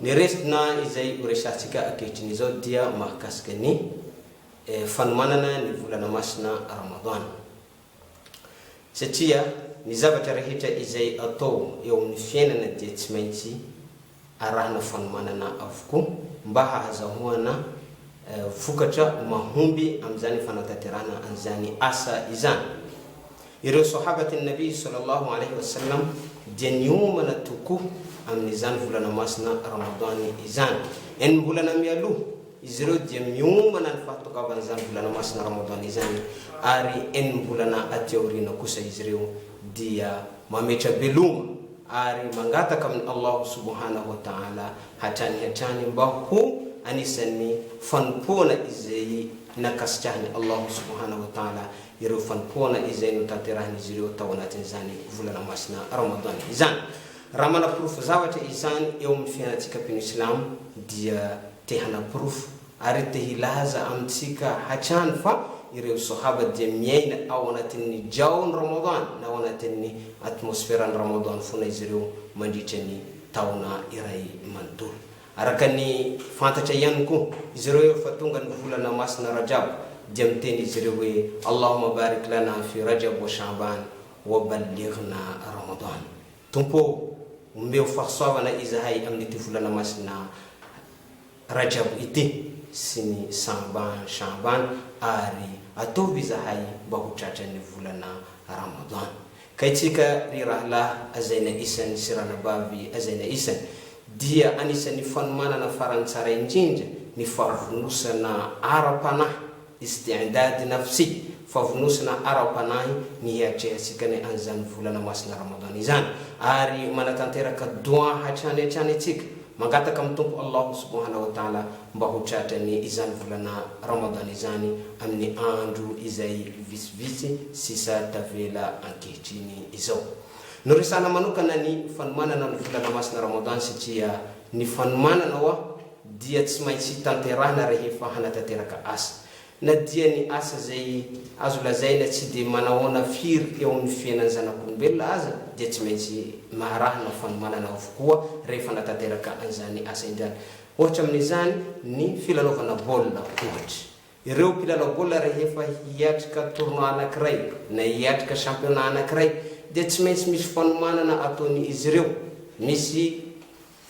Ny residna izay ho resahantsika ankehitriny izao dia mahakasika ny fanomanana ny volana masina Ramadan. Satria ny zavatra rehetra izay atao eo amin'ny fiainana dia tsy maintsy arahina fanomanana avokoa mba hahazahoana vokatra mahomby amin'izany fanatanterahana an'izany asa izany. Ireo Sohabat' an-Nabi sallallahu alayhi wa sallam dia niomana tokoa amin' izany volana masina Ramadan izany. Enim-bolana mialoha, izy ireo dia miomana ny fahatongavan' izany volana masina Ramadan izany, ary enim-bolana aty aoriana kosa izy ireo dia mametra-beloma ary mangataka amin' Allahu subhanahu wa ta'ala hatrany hatrany mba ho anisan' ny fanompoana izay nankasitrahin' Allahu subhanahu wa ta'ala ireo fanompoana izay notanterahin'izy ireo tao anatin'izany volana masina Ramadan izany. Raha manaporofo zavatra izany eo amin'ny fiainantsika mpino silamo dia te hanaporofo ary te hilaza amintsika hatrany fa ireo Sohaba dia miaina ao anatin'ny Jaw'n'ny Ramadan na ao anatin'ny atmosferan'ny Ramadan foana izy ireo mandritra ny taona iray manontolo. Araka ny fantatra ihany koa izy ireo rehefa tonga ny volana masina Rajab dia miteny izy ireo hoe, Allahumma barik lana fi Rajab wa Sha'ban wa ballighna Ramadan, Tompo ô! omeo fahasoavana izahay amin'ity volana masina Rajab ity sy ny Sa'ban, Sha'ban, ary ataovy izahay mba ho tratran'ny volana Ramadan. Kay tsika ry rahalahy hazaina isany sy ranabavy hazaina isany dia anisan'ny fanomanana farany tsara indrindra ny favonosana ara-panahy, izy dia handady na fsi, favonosana ara-panahy ny hiatrehansikany an'izany volana masina Ramadan izany, ary manatanteraka Doua hatrany hatrany tsika, Mangataka amin'ny Tompo Allah Subhana wa Ta'ala mba ho tratrany izany volana Ramadan izany amin'ny andro izay vitsivitsy sisa tavela ankehitriny izao. Noresahana manokana ny fanomanana ny volana masina Ramadan satria ny fanomanana oa dia tsy maintsy tanterahina rehefa hanatanteraka asa. Na dia ny asa izay azo lazaina tsy dia manahoana firy eo amin'ny fiainan'ny zanak'olombelona aza dia tsy maintsy maharahana ho fanomanana avokoa rehefa natanteraka an'izany asa indray. Ohatra amin'izany ny filalaovana baolina ohatra. Ireo mpilalao baolina rehefa hiatrika tournoi anankiray na hiatrika championnat anankiray dia tsy maintsy misy fanomanana ataon'izy ireo. Misy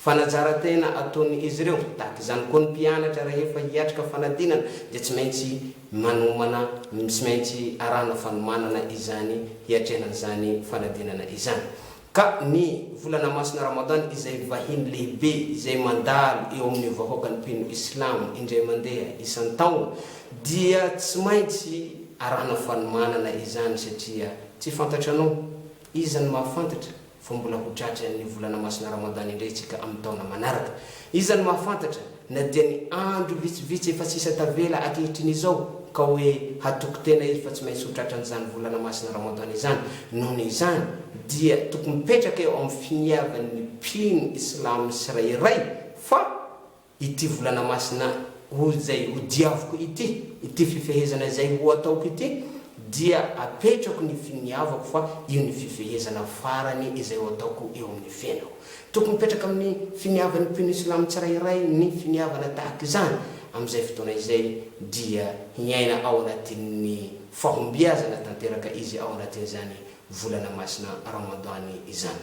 Fanazaran-tena ataon' izy ireo. Tahaka izany koa ny mpianatra rehefa hiatrika fanadinana dia tsy maintsy manomana, tsy maintsy arahana fanomanana izany hiatrehana izany fanadinana izany. Ka ny volana masina Ramadan izay vahiny lehibe izay mandalo eo amin' ny vahoaka ny mpino islamo indray mandeha isan-taona dia tsy maintsy arahana fanomanana izany satria tsy fantatranao Iza no mahafantatra fa mbola ho tratry ny volana masina Ramadan indray isika amin'ny taona manaraka? Iza no mahafantatra na dia ny andro vitsivitsy efa sisa tavela ankehitriny izao ka hoe hatoky tena izy fa tsy maintsy ho tratran'izany volana masina Ramadan izany? Noho izany dia tokony mipetraka eo amin'ny finiavan'ny mpino islamo tsirairay fa ity volana masina ho izay ho diaviko ity, ity fifehezana izay ho ataoko ity dia apetrako ny finiavako fa io ny fifehezana farany izay ho ataoko eo amin'ny fiainako. Tokony mipetraka amin'ny finiavan'ny mpino silamo tsirairay ny finiavana tahaka izany, amin'izay fotoana izay dia hiaina ao anatin'ny fahombiazana tanteraka izy ao anatin'izany volana masina Ramadan izany.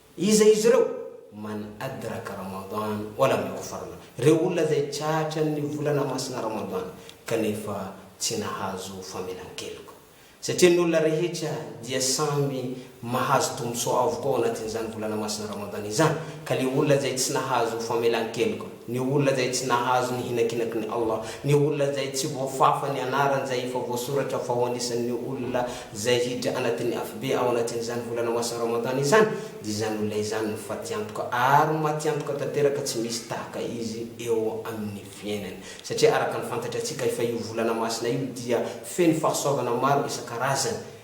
Iza izy ireo? Man adraka Ramadan wal am yughfarlah, ireo olona izay tratran'ny volana masina Ramadan kanefa tsy nahazo famelan-keloka. Satria ny olona rehetra dia samy mahazo tombontsoa avokoa ao anatin'izany volana masina Ramadan izany, ka ilay olona izay tsy nahazo famelan-keloka, Ny olona izay tsy nahazo ny hinakinaky ny Allah, ny olona izay tsy voafafa ny anarany izay efa voasoratra fa ho anisan' ny olona izay hiditra anatin' ny Afobe ao anatin' izany volana masina Ramadany izany, dia izany olona izany no fatiantoka ary matiantoka tanteraka tsy misy tahaka izy eo amin' ny fiainany. Satria araka ny fantatrantsika fa io volana masina io dia feno fahasoavana maro isan-karazany,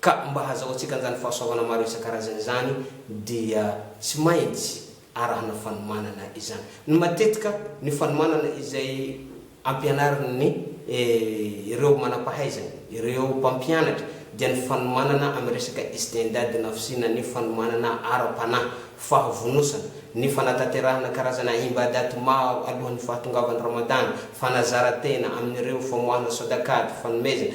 Ka mba hazahoantsika an'izany fahasoavana maro isan-karazany izany dia tsy maintsy arahana fanomanana izany. Ny matetika, ny fanomanana izay ampianarin'ny ireo manam-pahaizana, ireo mpampianatra, dia ny fanomanana amin'ny resaka istindad na fisiana ny fanomanana ara-panahy, fahavonosana, ny fanatanterahana karazana imbadat maro alohan'ny fahatongavan'ny Ramadan, fanazaran-tena amin'ireo famoahana sodaqat, fanomezana,